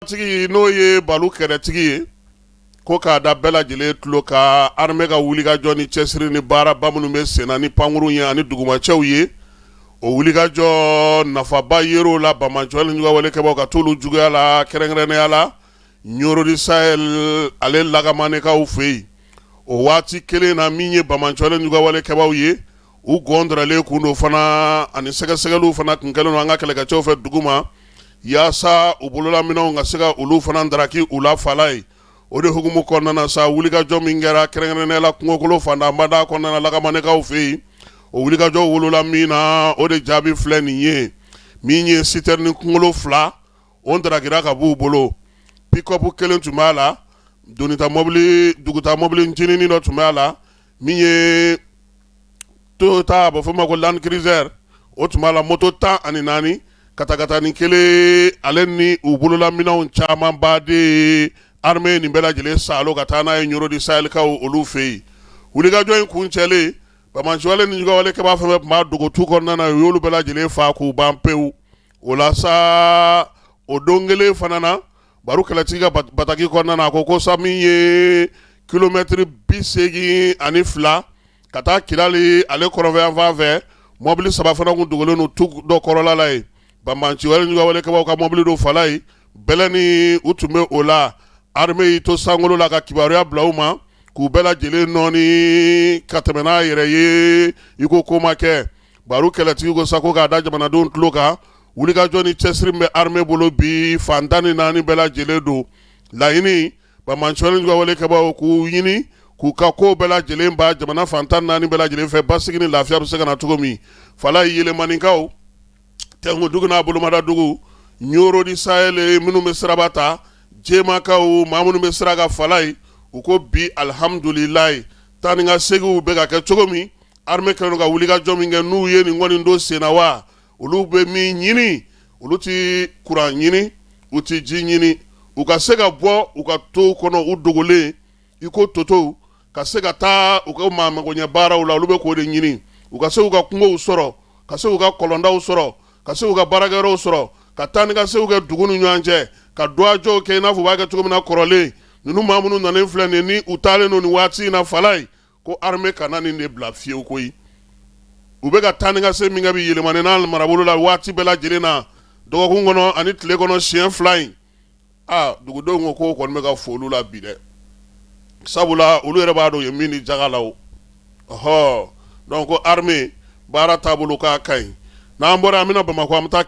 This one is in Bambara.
Tigi n'o ye balo kɛlɛtigi ye ko k'a da bɛɛ lajɛlen tulo kan armée ka wulikajɔ ni cɛsiri ni baaraba minnu bɛ sen na ni pankurun ye ani dugumacɛw ye o wulikajɔ nafaba yer'o la banbaanciwale ni juguwale kɛbaw ka t'olu juguya la kɛrɛnkɛrɛnnenya la Nioro du Sahel ale Lakamanekaw fɛ yen o waati kelen na min ye banbaanciwale ni juguwale kɛbagaw ye u gɔnlen kun don fana ani sɛgɛsɛgɛli fana tun kɛlen don an ka kɛlɛkɛcɛw fɛ duguma yaasa u bololaminɛw ka se ka olu fana daraki u la fala ye o de hukumu kɔnɔna sa wulikajɔ min kɛra kɛrɛnkɛrɛnnenya la kungokolo fanbada kɔnɔna Lakamanekaw fɛ yen o wulikajɔ wolola min na o de jaabi filɛ nin ye min ye citerne kunkolo fila o darakira ka bɔ u bolo pick-up kelen tun b'a la dugutaa mɔbilincinin dɔ tun b'a la min ye Toyota a bɛ fɔ o ma ko Land Cruiser o tun b'a la moto tan ani naani katakatanin kelen ale ni u bololaminɛw caman baden armée nin bɛɛ lajɛlen saalo ka taa n'a ye Nioro du Sahelkaw olu fɛ yen wulikajɔ in kuncɛlen banbaanciwale ni juguwale kɛba fɛn o fɛn tun bɛ dogo tu kɔnɔna u y'olu bɛɛ lajɛlen faa k'u ban pewu o la sa o don kelen fana na baro kɛlɛtigi ka bataki kɔnɔna a ko ko sa min ye kilomɛtiri bi segin ani fila ka taa Kidal ale kɔrɔnfɛyanfan fɛ mɔbili saba fana tun dogolen don tu dɔ kɔrɔla la ye banbaanciwale ni juguwale kɛbaw ka mɔbili don fala ye bɛlɛ ni u tun bɛ o la armée y'i to sankolo la ka kibaruya bila u ma k'u bɛɛ lajɛlen nɔɔni ka tɛmɛ n'a yɛrɛ ye i ko ko ma kɛ baro kɛlɛtigi ko sa ko k'a da jamanadenw tulo kan wulikajɔ ni cɛsiri bɛ armée bolo bi fan tan ni naani bɛɛ lajɛlen don laɲini banbaanciwale ni juguwale kɛbagaw k'u ɲini k'u ka ko bɛɛ lajɛlen ban jamana fan tan ni naani bɛɛ lajɛlen fɛ basigi ni lafiya bɛ se ka na cogo min fala Yelimanekaw Tɛnkudugu n'a bolomadadugu Nioro du Sahel minnu bɛ siraba ta Jɛmakaw maa minnu bɛ sira kan fala ye u ko bi alihamdulilayi taa ni ka seginw bɛ ka kɛ cogo min armée kɛlen don ka wulikajɔ min kɛ n'u ye nin kɔni don sen wa olu bɛ min ɲini olu tɛ kuran ɲini u tɛ ji ɲini u ka se ka bɔ u ka toow kɔnɔ u dogolen i ko totow ka se ka taa u ka maa magoɲɛ baaraw la olu bɛ k'o de ɲini u ka se u ka kungow sɔrɔ ka se u ka kɔlɔndaw sɔrɔ ka se u ka baarakɛyɔrɔw sɔrɔ ka taa ni ka seginw kɛ dugu ni ɲɔgɔn cɛ ka dɔgɔjɔw kɛ i n'a fɔ u b'a kɛ cogo min na kɔrɔlen ninnu maa minnu nalen filɛ nin ni u taalen don nin waati in na fala ye Ko armée kana nin de bila fiyewu koyi u bɛ ka taa ni ka segin min kɛ bi Yelimane n'a marabolo la waati bɛɛ lajɛlen na dɔgɔkun kɔnɔ ani tile kɔnɔ siyɛn fila in aa dugudenw ko ko o kɔni bɛ ka f'olu la bi dɛ sabula olu yɛrɛ b'a dɔn u ye min di jaka la ɔɔ donc ko armée baara taabolo k'a ka ɲi n'an bɔra an bɛ na Bamakɔ an bɛ taa